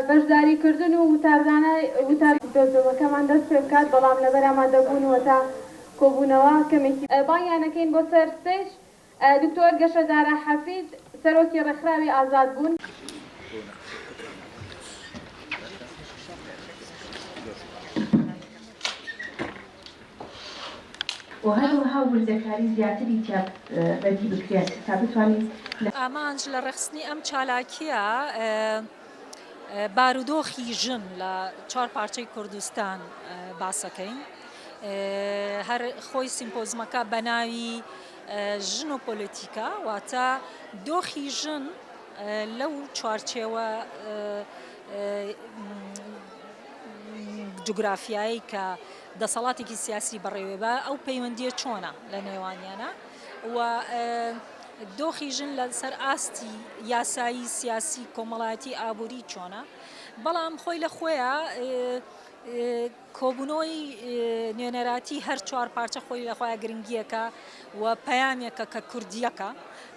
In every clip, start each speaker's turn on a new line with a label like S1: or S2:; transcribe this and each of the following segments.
S1: بەشداریکردن و وتار. دۆزەوەکەمان دەست پێ بکات بەڵام لەبەر ئامادەبوون و هەتا کۆبوونەوە کەمێکی. بانگیان ئەکەین بۆ سەر ستەیج دکتۆر گەشە دارا حەفید، سەرۆکی ڕێکخراوی ئازاد بوون.
S2: و هەروەها وردەکاری زیاتری تیا بەدی بکرێت تا بتوانین لە. ئامانج لە
S3: ڕێکخستنی ئەم چالاکییە بارودۆخی ژن لە چوار پارچەی کوردستان باسەکەین هەر خۆی سیمپۆزمەکە بەناوی. ژن و پۆلیتیکا واتە دۆخی ژن لەو چوارچێوە جوگرافیایی کە دەسەڵاتێکی سیاسی بەڕێوێبە ئەو پەیوەندیە چۆنە لە نێوانیانە و دۆخی ژن لەسەر ئاستی یاسایی سیاسی کۆمەڵایەتی ئابووری چۆنە بەڵام خۆی لە خۆیان کۆبوونەوەی نوێنەراتی هەر چوار پارچە خۆی لە خۆیان گرنگییەکە و پەیامێکە کە کوردییەکە،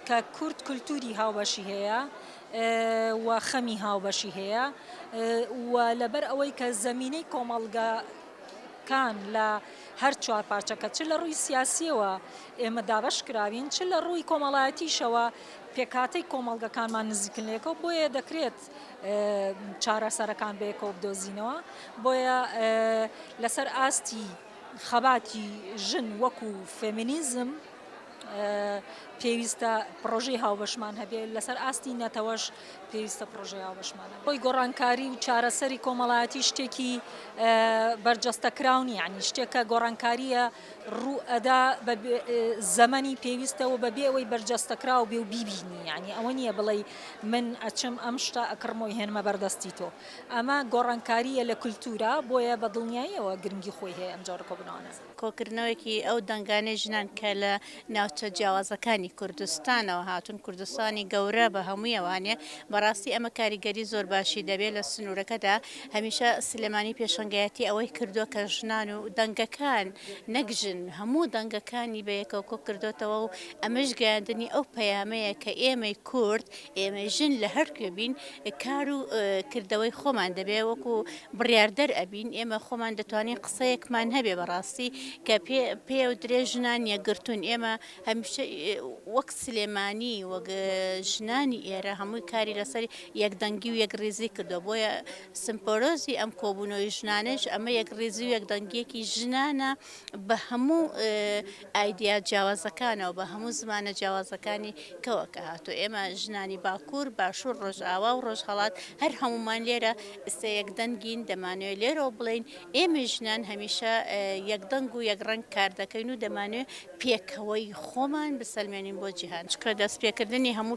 S3: کە کورد کولتووری هاوبەشی هەیە و خەمی هاوبەشی هەیە و لەبەر ئەوەی کە زەمینەی کۆمەڵگەکان لە هەر چوار پارچەکە چ لە ڕووی سیاسییەوە ئێمە دابەش کراوین چ لە ڕووی کۆمەڵایەتیشەوە پێکهاتەی کۆمەڵگەکانمان نزیکن لە یەکەوە بۆیە دەکرێت دەبێت چارەسەرەکان بەیەکەوە بدۆزینەوە بۆیە لەسەر ئاستی خەباتی ژن وەکو فێمینیزم پێویستە پرۆژەی هاوبەشمان هەبێت لەسەر ئاستی نەتەوەش پێویستە پرۆژەی هاوبەشمان بۆی گۆڕانکاری و چارەسەری کۆمەڵایەتی شتێکی بەرجەستە کراونی عنی شتێکە گۆڕانکاریە ڕوو ئەدا بە زەمەنی پێویستە و بەبێ ئەوەی بەرجەستەکراو بێ و بیبینی یانی ئەوە نییە بڵێی من ئەچم ئەم شتە ئەکڕم و ئەیهێنمە بەر دەستی تۆ ئەمە گۆڕانکارییە لە کولتوورا بۆیە بە دڵنیاییەوە گرنگی خۆی هەیە ئەم جۆرە کۆبوونەوانە. کۆکردنەوەیەکی
S4: ئەو دەنگانەی ژنان کە لە ناوچە جیاوازەکانی کوردستانەوە هاتوون، کوردستانی گەورە بە هەموویەوە هەنێ، بەڕاستی ئەمە کاریگەری زۆر باشی دەبێت لە سنوورەکەدا، هەمیشە سلێمانی پێشەنگایەتی ئەوەی کردووە کە ژنان و دەنگەکان نەک ژن هەموو دەنگەکانی بەیەکەوە کۆکردۆتەوە و ئەمەش گەیاندنی ئەو پەیامەیە کە ئێمەی کورد ئێمەی ژن لە هەر کوێ بین کار و کردەوەی خۆمان دەبێ وەکو بڕیاردەر ئەبین، ئێمە خۆمان دەتوانین قسەیەکمان هەبێ بەڕاستی کە پێیەودرێ ژنان یەکگرتوون، ئێمە هەمیشە وەک سلێمانی وەک ژنانی ئێرە هەمووی کاری لەسەر یەکدەنگی و یەکڕیزی کردووە، بۆیە سمپۆرۆزی ئەم کۆبوونەوەی ژنانەش ئەمە یەکڕیزی و یەکدەنگیەکی ژنانە. بە هەموو ئایدیا جیاوازەکانەوە، بە هەموو زمانە جیاوازەکانی کەوە کە هاتووە. ئێمە ژنانی باکوور، باشوور، ڕۆژئاوا و ڕۆژهەڵات هەر هەموومان لێرە ئیستە یەک دەنگین، دەمانەوێ لێرەوە بڵێین ئێمەی ژنان هەمیشە یەک دەنگ و یەک ڕەنگ کار دەکەین و دەمانەوێ پێکەوەی خۆمان بسەلمێنین بۆ جیهان. چونکە دەست پێ کردنی هەموو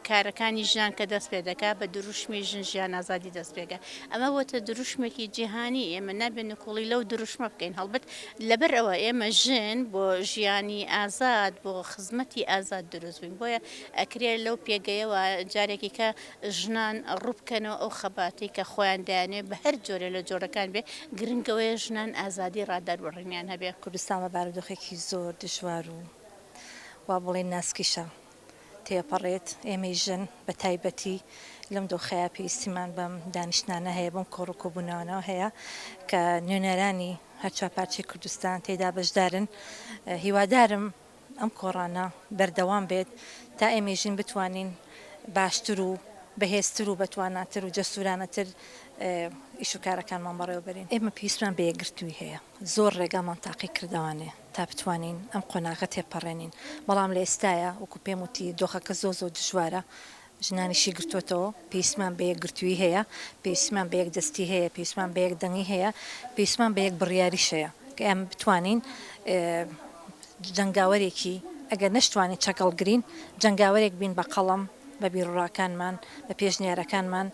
S4: کارەکانی ژنان کە دەست پێ دەکا بە دروشمی ژن ژیان ئازادی دەست پێ کە ئەمە بۆتە دروشمێکی جیهانی، ئێمە نابێ نکوڵی لەو دروشمە بکەین، هەڵبەت لەبەر ئەوە ئێمە ژن بۆ ژیانی ئازاد، بۆ خزمەتی ئازاد دروست بووین، بۆیە ئەکرێ لەو پێگەیەوە جارێکی کە ژنان ڕووبکەنەوە ئەو خەباتەی کە خۆیان دەیانەوێ بە هەر جۆرێ لە جۆرەکان بێ، گرنگ ئەوەیە ژنان ئازادی ڕادەربڕینیان هەبێ. کوردستان بە بارودۆخێکی
S5: زۆر دژوار و وا بڵێین ناسکیشە تێپەڕێت، ئێمەی ژن بە تایبەتی لەم دۆخەیا پێویستیمان بەم دانیشتنانە هەیە، بەم کۆڕ و کۆبوونەوانە هەیە کە نوێنەرانی هەر چوار پارچەی کوردستان تێیدا بەشدارن، هیوادارم ئەم کۆڕانە بەردەوام بێت تا ئێمەی ژن بتوانین باشتر و بەهێزتر و بەتواناتر و جەسورانەتر ئیش و کارەکانمان بەڕێوەبەرین. ئێمە پێویستمان بە یەکگرتووی هەیە، زۆر ڕێگامان تاقی کردەوانێ، تا بتوانین ئەم قۆناغە تێپەڕێنین، بەڵام لە ئێستایا وەکو پێم وتی دۆخەکە زۆر زۆر دژوارە، ژنانی شی گرتووەتەوە، پێویستمان بە یەکگرتوویی هەیە، پێویستمان بە یەکدەستی هەیە، پێویستمان بە یەک دەنگی هەیە، پێویستمان بە یەک بڕیاریش هەیە کە ئێمە بتوانین جەنگاوەرێکی ئەگەر نەشتوانین چەکەڵگرین جەنگاوەرێک بین بە قەڵەم، بە بیروڕاکانمان، بە پێشنیارەکانمان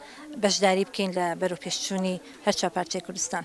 S5: بەشداری بکەین لە بەرەوپێشچوونی هەر چوار پارچەی کوردستان.